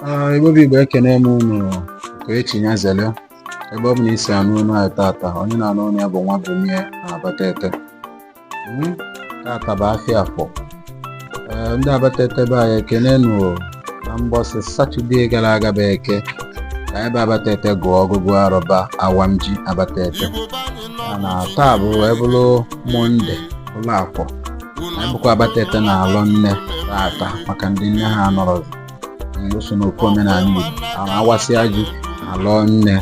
Ah, Igbo bụ Igbo ekene m unu Okechi Nyazelu ebe ọ bụla i si anụ onu anyị tata onye na-anụ onu ya bụ nwa Bumie na Abatete Hmm, tata bụ afịa Afọ Ee, ndị Abatete be anyị ekene nụ o. na mbọsị Satọde gara aga bụ Eke ka anyị bụ Abatete gụọ ọgụgụ arọ bụ awam ji Abatete mana taa bụ wee bụrụ Mọnde bụrụ Afọ anyị bụkwa Abatete na-alọ nne taata maka ndị nne ha anọrọzi nso n'okwu omenala Igbo a na-awasịa ji alọ nne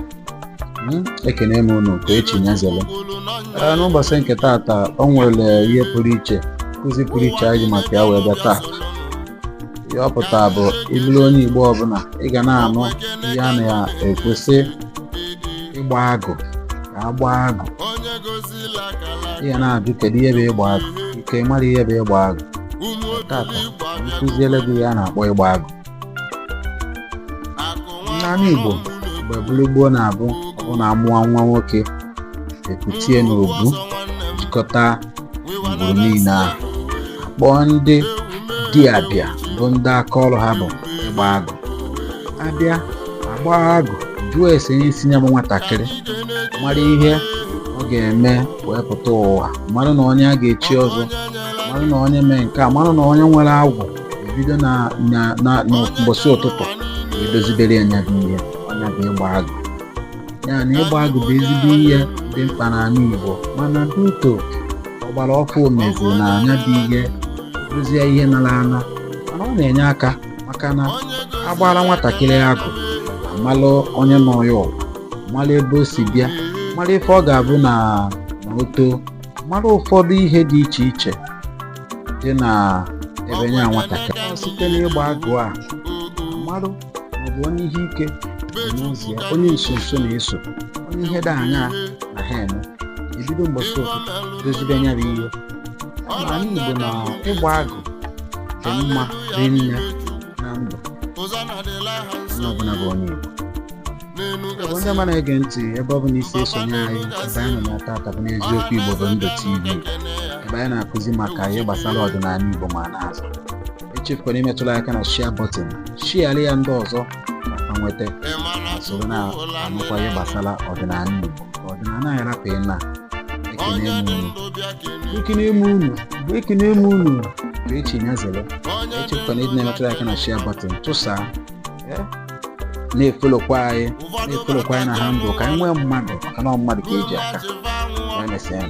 hmm, ekene m unu ka echi nyazele ee n'ụbọchị nke taata o nwere ihe pụrụ iche nkụzi pụrụ iche anyị maka ya wee bịa taata ihe ọ pụta bụ ị bụrụ onye Igbo ọbụla ị ga na-anụ ihe a na-ekwu sị ịgba agụ agba agụ ị ga na-ajụ kedu ihe bụ ịgba agụ ị ga-amara ihe bụ ịgba agụ tata m kụziele gị ihe a na-akpọ ịgba agụ n'ala Igbo mgbe bụrụ gboo na-abụ ọ na amụa nwa nwoke ekute ya n'obu jikọta ngwuru niile ahụ kpọọ ndị dibịa bụ ndị aka ọrụ ha bụ ịgba agụ abịa agba agụ jụọ ese isi nya bụ nwatakịrị mara ihe ọ ga-eme wee pụta ụwa mara na onye a ga-echi ọzọ mara na onye mee nke a mara na onye nwere agwụ ebido na na na mbọsị ụtụtụ wee dozibere ya nya bụ ihe ọ nya bụ ịgba agụ ya na ịgba agụ bụ ezigbo ihe dị mkpa n'ala Igbo mana due to ọgbara ọfụụ mezi na nya bụ ihe bụzie ihe nara ana mana ọ na-enye aka maka na agbara nwatakịrị agụ amalụ onye nọ ya ụwa mara ebe o si bịa mara ife ọ ga-abụ na na o too mara ụfọdụ ihe dị iche iche dị na ebe nya nwatakịrị site n'ịgba agụ a marụ ma ọ bụ onye ihe ike nọ n'ụzọ ya onye nso nso na-eso onye ihe dị aṅaa na ha eme ebido mbọsị ụtụtụ dozibe nya bụ ihe n'ala Igbo na ịgba agụ dị mma rinne na ndụ onye ọbụla bụ onye Igbo ndị ọma na-ege ntị ebe ọ bụla i si esonye anyị ebe anyị nọ tata bụ n'Eziokwu Igbo Bụ Ndụ TV ebe anyị na-akụzi maka ihe gbasara ọdịnala Igbo ma na-azụ echefukwala imetụla aka na share button share-lị ya ndị ọzọ ka ha nweta soro na-anụkwa ihe gbasara ọdịnala Igbo ọdịnala anyị rapụ ịna ekene m unu ekene m unu bụ ekene m unu bụ echi nya zere echefukwala ịdị na-emetụla aka na share button tụsaa na-efolokwa anyị na-efolokwa anyị na handle ka anyị nwee mmadụ maka na ọ mmadụ ka eji aka emesịa